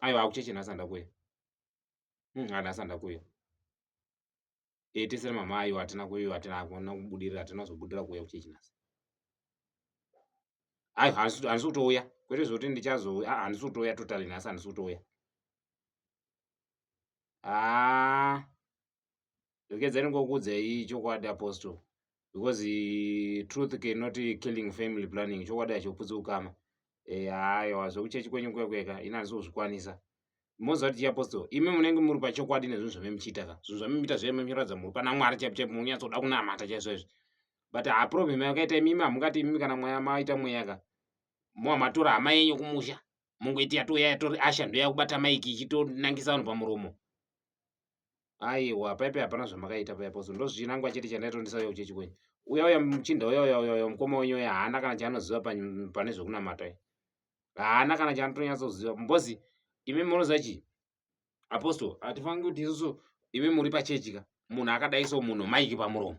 aiwa akucheche nhasi andakuya hmm, nhasi andakuya e eh, tesere mama aiwa hatina kuiwa hatina kuona kubudirira hatina kuzobudirira kuuya kucheche nhasi aiwa handisi kutouya kwete zvekuti ndichazouya ah, handisi kutouya totally nhasi handisi kutouya haa ah. Dokedzai ndingokuudzai chokwadi apostle because uh, truth cannot killing family planning chokwadi hachoputsi ukama eh, hayo hazvo kuchechi kwenyu kwekweka ini handisi kuzvikwanisa moziva kuti chiapostle imi munenge muri pachokwadi nezvinhu zvamemuchiita ka zvinhu zvamemuita zvaye memuchiratidza muri pana mwari chaipo chaipo munyatsoda kunamata chaizvo izvi but haproblem yakaita imimi hamungati imimi kana mweya maita mweya ka moa matora hama yenyu kumusha mungoiti yatoya yatori asha ndoya kubata maiki ichitonangisa vanhu pamuromo aiwa paipe hapana zvamakaita paipo so ndozvinangwa chete chandaitondisa uya kuchechi kwenyu uya uya muchinda uya uya uya uya mukoma wenyu uya haana kana chaanoziva pane zvekunamata uya haana kana chaanotonyatsoziva mbozi imi munoziva chii apostle hatifangi kuti isusu imi muri pachechi ka munhu akadai so munhu maiki pamuromo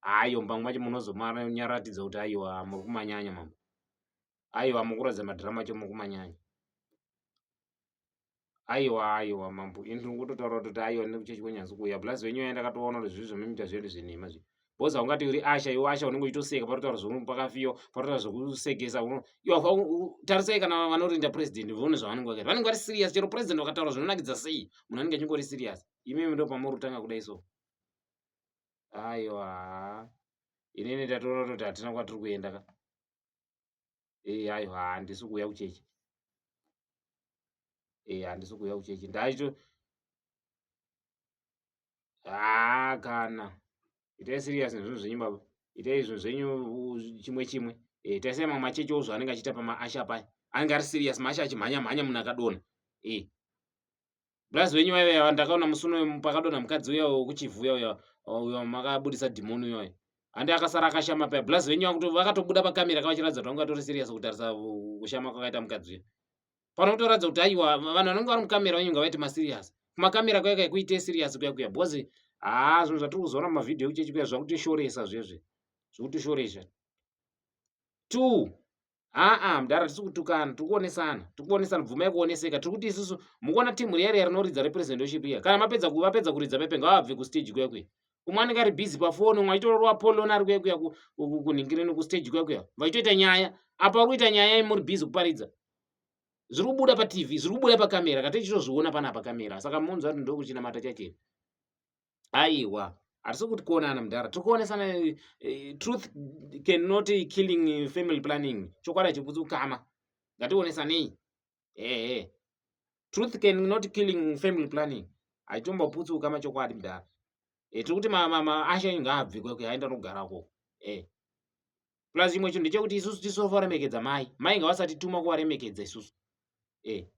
hayo mbangu macho munozonyaratidza kuti aiwa muri kumanyanya mambo aiwa mukuratidza madhirama acho muri kumanyanya aiwa aiwa mambo ini ndingototaura kuti aiwa nekuchechi kwenyanzi kuuya plus venyu yaya ndakatoona kuti zvii zvomuita zvedu zvenhema zvi bhoza ungati uri asha iwe asha unenge uchitoseka patotaura zvomunhu pakafiyo patotaura zvekusekesa tarisai kana vanorinda president vone zvavanenge vakaita vanenge vari serious chero president vakataura zvinonakidza sei munhu anenge achingori serious imimi ndo pamuri kutanga kudai so aiwa inini tatoona toti hatina kwatiri kuenda ka ee aiwa handisi kuuya kuchechi ee handisi kuuya kuchechi ndaito haa kana itai serious nezvinhu zvenyu baba itai zvinhu zvenyu chimwe chimwe ee itai sei mamwe machechi ozvo anenge achiita pamaasha paya anenge ari serious maasha achimhanya mhanya munhu akadona ee Blaz wenyu vaive yava ndakaona musi unoyo pakadonha mukadzi uya wekuchivuya uya uyo makabudisa dhimoni uyoyo. Hande akasara akashama paya. Blaz venyu vakuto vakatobuda pakamera kavachiratidza kuti vanga vatori serious kutarisa kushama kwakaita mukadzi uya. Pano kutoratidza kuti aiwa vanhu vanenge vari mukamera venyu ngavaite maserious. Kumakamera kuya kai kuite serious kuya kuya because haa zvinhu zvatiri kuzoona mumavhidhiyo ekuchechi kuya zvakutishoresa zvezve. Zvikutishoresha. Two. aa mdara tisi kutukana tiri kuonesana tiri kuonesana bvumai kuoneseka tiri kuti isusu mukuona timu riya riya rinoridza representoship iya kana mapedza vapedza kuridza pepe ngavabve kustage kuya kuya umwe anenge ari busy pafoni umwe achitororwa polona ari kuya kuya kunhingirini kustage kuya kuya vachitoita nyaya apa uri kuita nyaya i muri busy kuparidza zviri kubuda patv zviri kubuda pakamera kati ichitozviona pana pakamera saka munzwa kuti ndokuchinamata chacheni aiwa hatisi kuti kuonana mudhara tiri kuonesana eh, truth cannot killing family planning chokwadi chibvudzi ukama ngationesanei ehe truth cannot killing family planning haitomboputsi ukama chokwadi mudhara e, tiri kuti maasha inga abvikwe kuti aenda nogara ko e eh. plus chimwe chinhu ndechekuti isusu tisofa remekedza mai mai ngavasatituma kuvaremekedza isusu e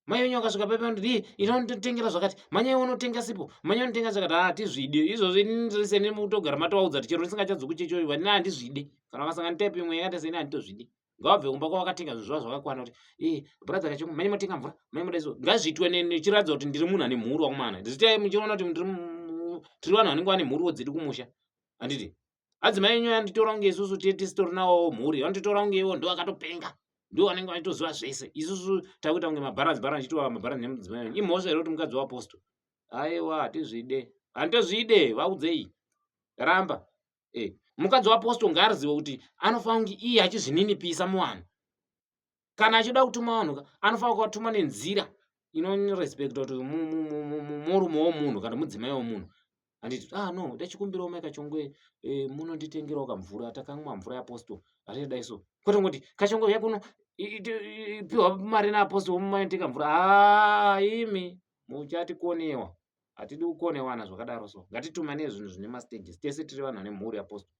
mai venyu vakasvika paipa ndiri ita unotengera zvakati manyai unotenga sipo manyai unotenga zvakati haa ah, tizvide izvozvo inindise nemi kutogara matovaudza kuti chero ndisingachadzoku chechoyo vanini handizvide kana vakasanga nitaipi imwe yakaita seni handitozvide ngavabve kumba kwavakatenga zvinhu zvavo zvakakwana kuti e eh, bradha kacho manyai motenga mvura manyai moda izvo ngazviitwe nechiratidza kuti ndiri munhu ane mhuru wakumana zvitai muchiona kuti tiri vanhu vanenge vane mhuruwo dzedu kumusha handiti adzimai enyu anditora kunge isusu tiye tisitori nawowo mhuri vanditora kunge iwo ndo akatopenga ndo vanenge vaitoziva zvese isusu takuita kunge mabharanzi bharanzi chitiwa mabharanzi nemudzimai enyu imhosva here kuti mukadzi waaposto aiwa hatizvide handitozvide vaudzei ramba e eh, mukadzi waaposto ngaarizive kuti anofanira kunge iye achizvininipisa muvanhu kana achida kutuma vanhu ka anofanira kuvatuma nenzira inorespecta kuti murume womunhu kana mudzimai womunhu handiti ah no ndachikumbirawo mai kachongwe eh, munonditengerawo kamvura takamwa mvura yaapostol hatiti dai so kwete ngoti kachongwe uya kuno piwa mari naapostol mumaiteka mvura haa ah, imi muchatikonewa hatidi kukonewana zvakadaro so ngatitumane zvinhu zvine mastages tese tiri vanhu vane mhuri yapostol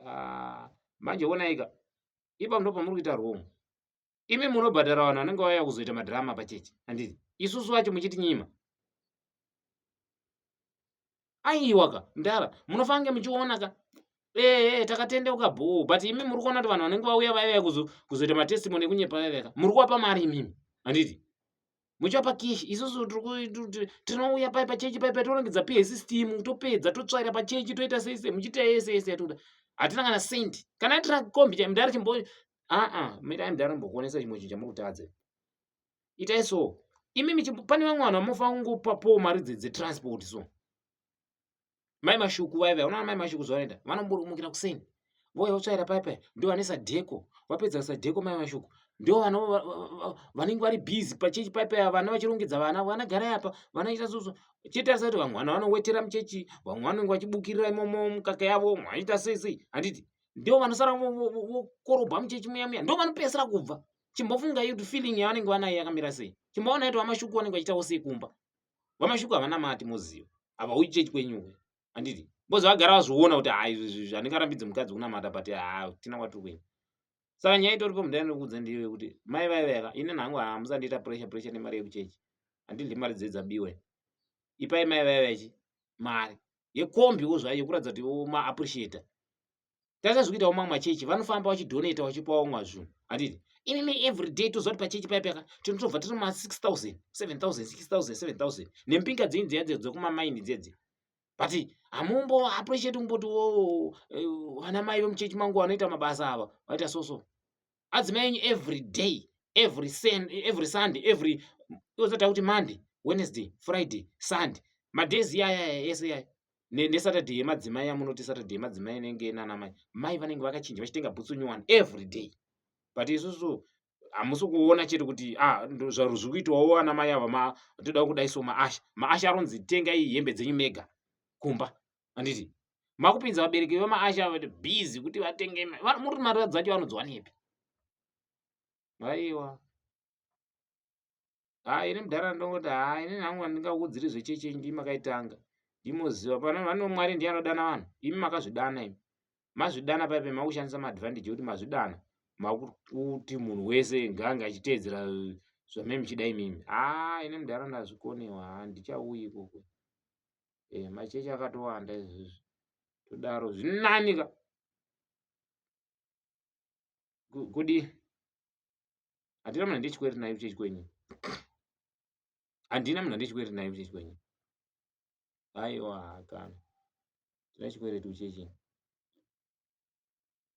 ah, manje wonaika ipa ndo pamuri kuita wrong imi munobhadhara vanhu vanenge vauya kuzoita madhirama pachechi handiti isusu vacho muchitinyima aiwa ka mdara munofange muchiona ka ehe takatendeuka bhoo but imi muri kuona kuti vanhu vanenge vauya vaiva kuzoita matestimony ekunyepa vaiveka muri kuwapa mari imimi handiti muchapa kishi isusu tinouya pai pachechi pai patorongedza pay system topedza totsvaira pachechi toita sei sei muchiita yese yese yatoda hatina kana sendi kana aitira kombi chai mudhara chimbo aa mitai mudhara mbokuonesa chimwe chinhu chamuri kutadza itai so imimi pane vamwe vanhu vamofanira kungopa po mari dzetransport so mai mashuku vaya vaya unaona mai mashuku zvavanoita vanomburumukira kuseni vouya votsvaira paya paya ndo vane sadheko vapedza sadheko mai mashuku ndo vanenge vari busy pachechi paya paya vana vachirongedza vana vana garai apa vana ita soso chetarisa kuti vamwe vana vanowetera muchechi vamwe vanenge vachibukirira imomo mukaka yavo vamwe vanoita sei sei handiti ndo vanosara vokorobwa muchechi muya muya ndo vanopedzisira kubva chimbofunga iyo kuti feeling yavanenge vanayo yakamira sei chimboona ito vamashuku vanenge vachitawo sei kumba vamashuku havana mati moziva ava uyi chechi kwenyuwe handiti bcoz vagara vazviona kuti ha izvizvi handingarambidzi mukadzi kunamata but ha tina kwatiri kuenda saka nyaya itori pamudandikuudza ndiyo yekuti mai vaiveka ini nhangu hamusandiita ah, pressure pressure nemari yekuchechi handidli mari dzedzabiwe ipai mai vaivechi mari yekombi wo zvayo yekuratidza kuti maappreciator tata zviri kuitawo mamwe machechi vanofamba vachidonata vachipawo mwa zvinhu handiti imimi everyday toziva kuti pachechi paya payaka tinotobva tiri ma 6000 7000 6000 7000 nempinga dzenyu dziya dzedzo dzekumamaini dzedzi but hamumbo appreciate kumboti wo eh, vana mai vemuchechi mangu vanoita mabasa ava vaita so so adzimai enyu every day every, sen, every sunday every ozata kuti monday wednesday friday sunday madays iyayaya ese yaya nesaturday yemadzimai yamunoti saturday yemadzimai inenge nanamai mai vanenge vakachinja vachitenga bhutsu new one every day but isusu hamusi kuona chete kuti ah, zvaro zviri kuitwawo anamai ava toda kudai so maasha maasha aronzi tengai hembe dzenyu mega kumba handiti makupinza vabereki vemaasha vati busy kuti vatenge muri mari dzacho vanodziwanepi aiwa ha ini mudhara ndongoti ha ini nangu andingaudziri zvecheche ndi makaitanga ndimoziva pano vano mwari ndiye anodana vanhu imi makazvidana imi mazvidana paipe makushandisa maadvantage ekuti mazvidana makuti munhu wese ngaange achiteedzera zvamai muchida imimi ha ini mudhara ndazvikoniwa ha ndichauyi ikoko eh, machechi akatowanda izvizvi todaro zvinani ka kudi handina munhu andichikweri nayo chechi kwenyu handina munhu andichikweri nayo chechi kwenyu aiwa hakana tine chikwereti uchechini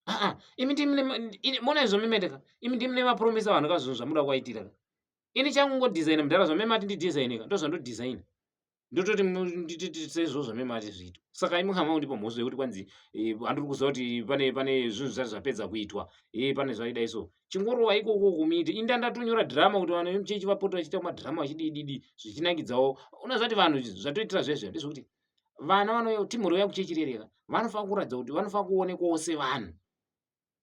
aa imi ndimona izvo mimeteka imi ndimi nemapromisa vanhu ka zvinhu zvamuda kuvaitira ka ini changu ngodhizaina mudhara zvamemati ndidhizainika ndo zvandodhizaina ndototi sezvo zvamemati zviito saka imi hama undipa mhosva yekuti kwanzi eh, handiri kuziva kuti pane pane zvinhu zvati zvapedza kuitwa e pane zvaidai so chingorova ikoko kumiite inda ndatonyora dhirama kuti vanhu vemuchechi vapota vachiita madhirama vachidididi zvichinakidzawo unozvati vanhu zvatoitira zvezve ndezvekuti vana vanouya kuti mhuri vauya kuchechirereka vanofanira kuratidza kuti vanofanira kuonekwawo sevanhu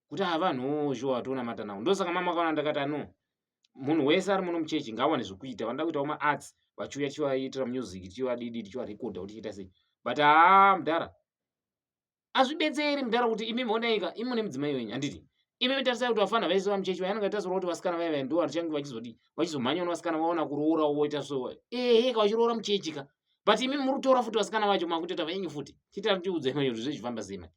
kuti haa vanhuwo zhuwa vatonamata navo ndosaka mama vakaona ndakati ano munhu wese ari muno muchechi ngaawane zvekuita vanoda kuitawo maarts vachiuya tichivaitira music tichiva didi tichivarekodha kuti chiita sei but haa mudhara azvibetseri mudhara kuti imimi onaika imi mune mudzimai wenyu handiti imimi tarisai kuti vafana vaise vamuchechi vaya anenge tazoura kuti vasikana vaya vaya ndo varichange vachizodi vachizomhanya una vasikana vaona kuroora woita so ehe ka vachiroora muchechi ka but imimi muri kutora futi vasikana vacho makutoita venyu futi chitari tiudza imai kuti zvechifamba sema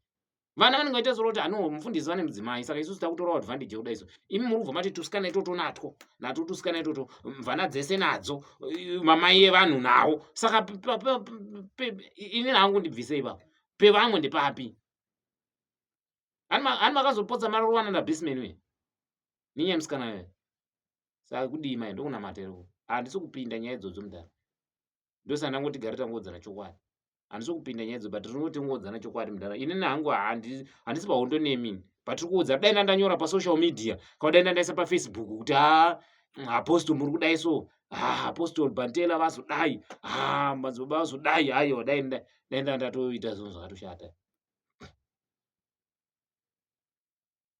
vana vanenge vaita zora kuti hano mufundisi vane mudzimai saka isusu takutorawo advantage yekuda isu imi muri kubva mati tusikana itoto natwo natwo tusikana itoto mvana dzese nadzo mamai evanhu nawo saka ini hangu ndibvise ipapo pevamwe ndepapi ani makazopotsa mari rovana ndabisman uye ninye musikana uye saka kudii mai ndokunamatero handisi kupinda nyaya idzodzo mudhara ndosaka ndangoti gari tangodzana chokwadi handisi kupinda nyaya idzo but rinoti ngodzana chokwadi mudhara inini hangu handisi pahondo nemini but ri kuudza dai ndandanyora pasocial media kaudai ndandaisa pafacebook kuti ha apostle muri kudai so ah, apostol bantela vazodai ah, madzibaba vazodai ayo dai ndaenda ndatoita zvinhu zvakatoshata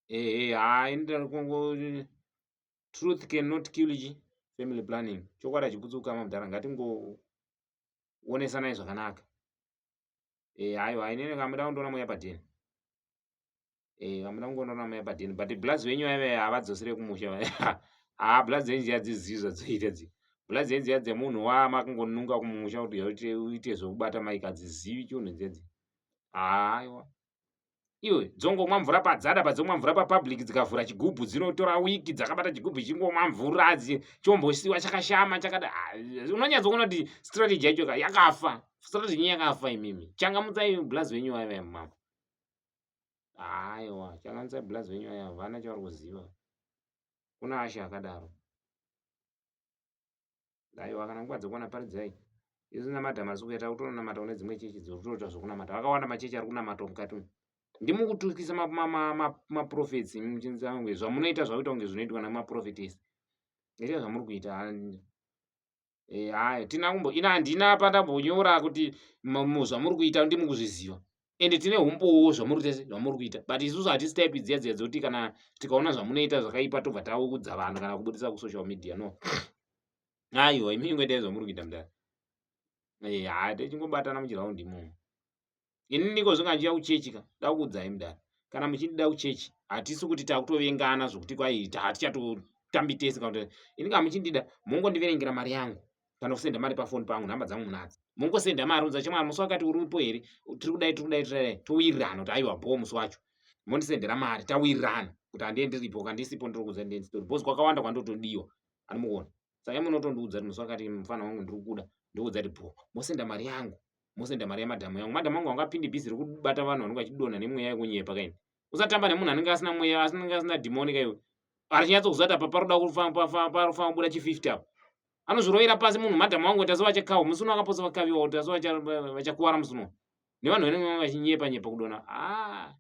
ehe haa ini ndarikungo truth can not kill chi family planning chokwadi achiputsuka mamudhara ngatingoonesanai zvakanaka e eh, aiwa inini kamuda kundiona mweya padheni eh vamuna kungoona rama yapadini but blaz wenyu vaive havadzosere kumusha haa blaz dzenyu dziya dzizivi zvadziita dzi blaz dzenyu dziya dzemunhu wa makungonunga kumusha kuti yaute uite zvekubata maika dzizivi chunhu dzedzi haaiwa iwe dzongomwa mvura padzada padzomwa mvura papublic dzikavhura chigubhu dzinotora wiki dzakabata chigubhu chingomwa mvura adzi chombosiwa chakashama chakada ah, unonyatsoona kuti strategy yacho yakafa strategy yakafa imimi changamutsai blaz wenyu vaive mama aiwa changanisa blaz venyu aya havana chavari kuziva kuna ashe akadaro aiwa kana nguva dzekuwana paridzai isu namata masuku yata kutonamata kune dzimwe chechi dzirikutoita zvekunamata vakawanda machechi ari kunamata mukati umu ndimukutukisa maprofets muchinzi ange zvamunoita zvakuita kunge zvinoitwa nemaprofetes ita zvamuri kuita eh, hai tina kumbo ina handina pandambonyora kuti zvamuri kuita ndimi kuzviziva ende tine umbowo zvamuri tese zvamuri kuita but isusu hatisi type dziya dziya dzoti kana tikaona zvamunoita zvakaipa tobva taukudza vanhu kana kubudisa kusocial media no aiwa imi ingoitai zvamuri kuita mudari eh, haa tichingobatana muchiraundi imomo ini niko zvinga ndichiya kuchechi ka dakuudzai mudhara kana muchindida kuchechi hatisi kuti takutovengana zvokuti kwai hatichatotambi tese kana kuti ini kana muchindida mongondiverengera mari yangu kana kusenda mari pafoni pangu nhamba dzangu munadzi mongosenda mari unza chemwana musi wakati uripo here tiri kudai tiri kudai tiri towirirana kuti aiwa bho musi wacho mondisendera mari tawirirana kuti handie ndiripo kandisipo ndiri kuza ndie ndisitori bhozi kwakawanda kwandotodiwa anomuona saka imwe unotondiudza kuti musi wakati mufana wangu ndiri kuda ndoudza kuti bho mosenda mari yangu mosenda mari yamadhamu yangu madhamu angu anga apindi bhizi rekubata vanhu vanenge vachidonha nemweya yekunyepa kaini usatamba nemunhu anenge asina mweya asinenge asina dhimoni kaiwe arichinyatsokuziva kuti apa paroda kufamba buda chififty apa anozvirovera pasi munhu madhamu wangu kuti asovachakawa musi uno akaposa vakaviwa kuti asovachakuvara musi uno nevanhu vanenge vachinyepa nyepa kudona aa ah.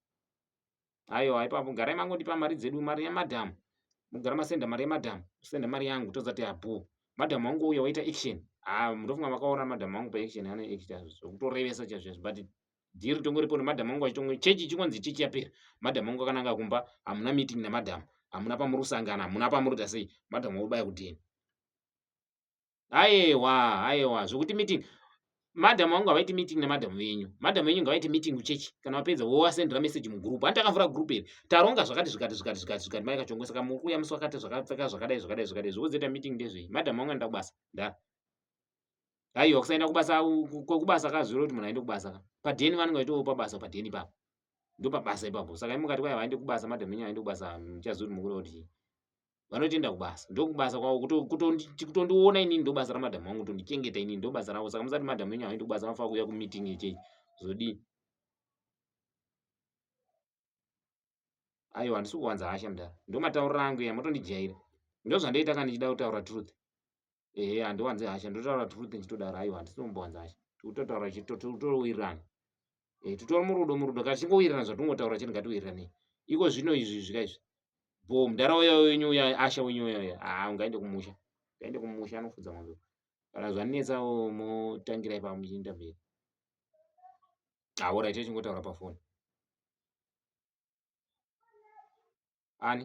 Aiwa ipapo garai mangondipa mari dzedu mari yamadam. Mugara masenda mari yamadam. Senda mari yangu tozati abho. Madam wangu uya waita action. Ah ndofunga makaona madam wangu pa action ane action zvokutorevesa chazvezvo but dhiri tongoripo nemadam wangu achitongo chechi chikonzi chechi yapera. Madam wangu akananga kumba hamuna meeting namadam. Hamuna pamuri kusangana hamuna pamuri tasei madam wobaya kudini. Ayewa, ayewa, zvokuti meeting. Madam wangu havaiti meeting nemadam venyu. Madam venyu ngavaite meeting kuchechi. Kana wapedza wowasendera message mugroup. Hanti akavhura group iri. Taronga zvakati zvakati zvakati zvakati zvakati mai kachongwe saka muri kuuya musi wakati zvakapfeka zvakadai zvakadai zvakadai zvokuzoita meeting ndezvei. Madam wangu anoenda kubasa. Ndara. Aiwa kusaenda kubasa kwekubasa kazviro kuti munhu aende kubasa ka. Padeni vanenge vaitowo pabasa padeni ipapo. Ndopabasa ipapo. Saka imukati kwaya vaende kubasa madam venyu aende kubasa muchaziva kuti mukuru kuti. vanotoenda kubasa ndokubasa kwavo kutondiona inini ndobasa ramadhamu wangu kutondichengeta inini ndobasa ravo saka musati madhamu enyu havaendi kubasa vanofanira kuuya kumeeting yechei zodii aiwa handisi kuwanza hasha mdara ndomataurira angu iya matondijaira ndozvandoita kana ndichida kutaura truth ehe handiwanze hasha ndotaura true thing chitodaro aiwa handisi kumbowanza hasha tikutotaura chitotowirirana eh, titori murudo murudo kana tichingowirirana zvatingotaura chete ngatiwiriranei iko zvino izvi zvika izvi bo mudhara uya wenyu uya asha wenyu uya uya haa ah, ungaende kumusha ungaende kumusha anofudza mwanzo kana zvanetsa motangirai pava muchiinda mberi aoraite ah, chingotaura pafoni ani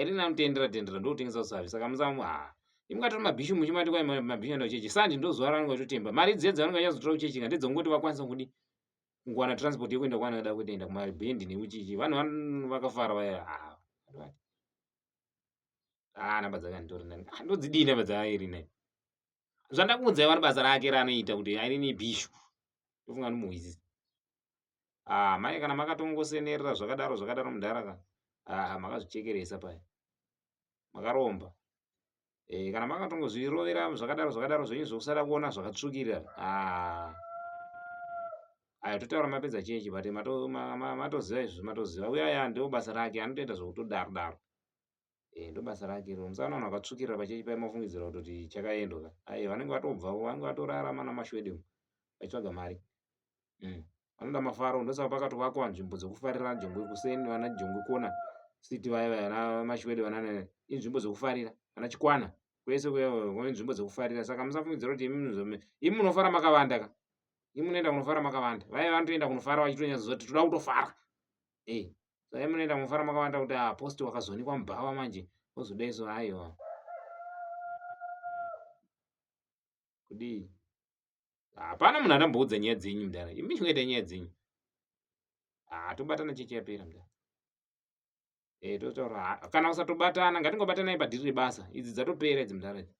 iri na mutendera tendera ndotengesa usavi saka musamu ha imukati ma bishu muchi mati kwa ma bishu ndo chechi sandi ndo zuwa ranga chotemba mari dzedzo vanga yazo tora chechi ngati dzongoti vakwanisa kudi ngwana transport yekuenda kwana kada kuenda kuma band ne uchichi vanhu vanhu vakafara vaya ha ah namba dzaka ndori nani ah, ndo dzidi namba dzaka iri ne zvandakuudza vana basa rake ranoita kuti aine bishu ndofunga nomuhwizi ah mai kana makatongosenerera zvakadaro zvakadaro mudhara ka ah makazvichekeresa paya makaromba eh kana makatongozvirovera zvakadaro zvakadaro zvenyu zvekusada kuona zvakatsvukira ah aya totaura mapedza chechi but matoziva izvozvo matoziva uya ya ndoo basa rake anotoita zvekutodaro daro eh, ndobasa rake iro musana vanhu vakatsvukirira pachechi pai mafungidzira kutoti chakaendwa ka aye vanenge vatobvavo vanenge vatorarama namashwede mu vachitsvaga mari mm. vanoda mm. mafaro ndosaka pakatovakwa nzvimbo dzekufarira jongwe kuseni vana jongwe kona siti vaya vana mashwede vana inzvimbo dzekufarira vana chikwana kwese kune nzvimbo dzekufarira saka musafungidzira kuti imi munofara makavanda ka imi munoenda kunofara makavanda vaya vanotoenda kunofara vachitonyatsoziva kuti toda kutofara hey sai munoenda mufara makavanda kuti ah post wakazonikwa mubhawa manje ozodaiso aiwa kudii hapana munhu adamboudza nyaya dzenyu mudara imi chingaita nyaya dzenyu ah, tobatana chechi yapera mudara e, totaura kana usatobatana ngatingobatanai padhiri rebasa idzi dzatopera idzi mudara idzi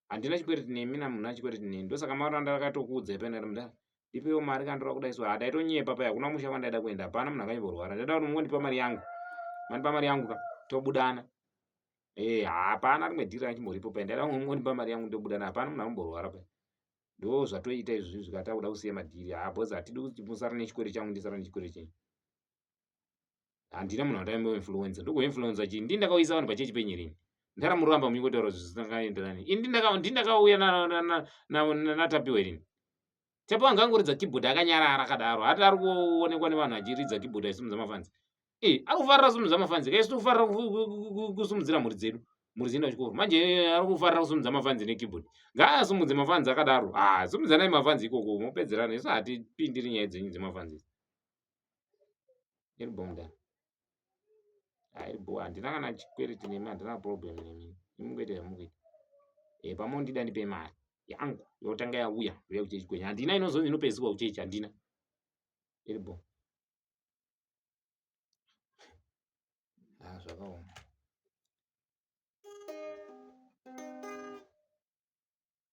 handina chikwereti nemi na munhu achikwereti neni ndosaka mauri anda akatokuudza ipa ndati mda ndipewo mari kandora kuda isu handaitonyepa paya hakuna musha kwandaida kuenda hapana munhu akanyimborwara ndaida kuti mungondipa mari yangu mandipa mari yangu ka tobudana e hapana rimwe dhiri ranchimboripo paya ndaida mungondipa mari yangu ndobudana hapana munhu akamborwara paya ndo zvatoita izvi zvikati akuda kusiya madhiri ha bhozi hatidi kuti musara nechikwere changu ndisara nechikwere chenyu handina munhu andaimbo influenza ndiko influenza chii ndi ndakauyisa vanhu pachechi penyirini ndaramuramba munyikotaura zvisingakaenderani ini ndindakauya natapiwa irini tapiwa anga angoridza keyboard akanyarara akadaro hati ari kuonekwa nevanhu achiridza keyboard aisumudza mafanzi e eh, ari kufarira kusumudza mafanzi kaisi tikufarira kusumudzira mhuri dzedu mhuri dzinoenda kuchikoro manje eh, ari kufarira kusumudza mafanzi nekeyboard ngaasumudze mafanzi akadaro ha ah, sumudzanai mafanzi ikoko mopedzerana isu hatipindiri nyaya dzenyu dzemafanzi iri bho mda ah, iri bho handina kana chikwereti nemi handina problem nemi imungoita yamukuita e eh, pamondida ndipe mari yangu yotanga yauya uya kuchechi kwenyu handina inozonzi inopedzisirwa kuchechi handina iri bho a ah, zvakaoma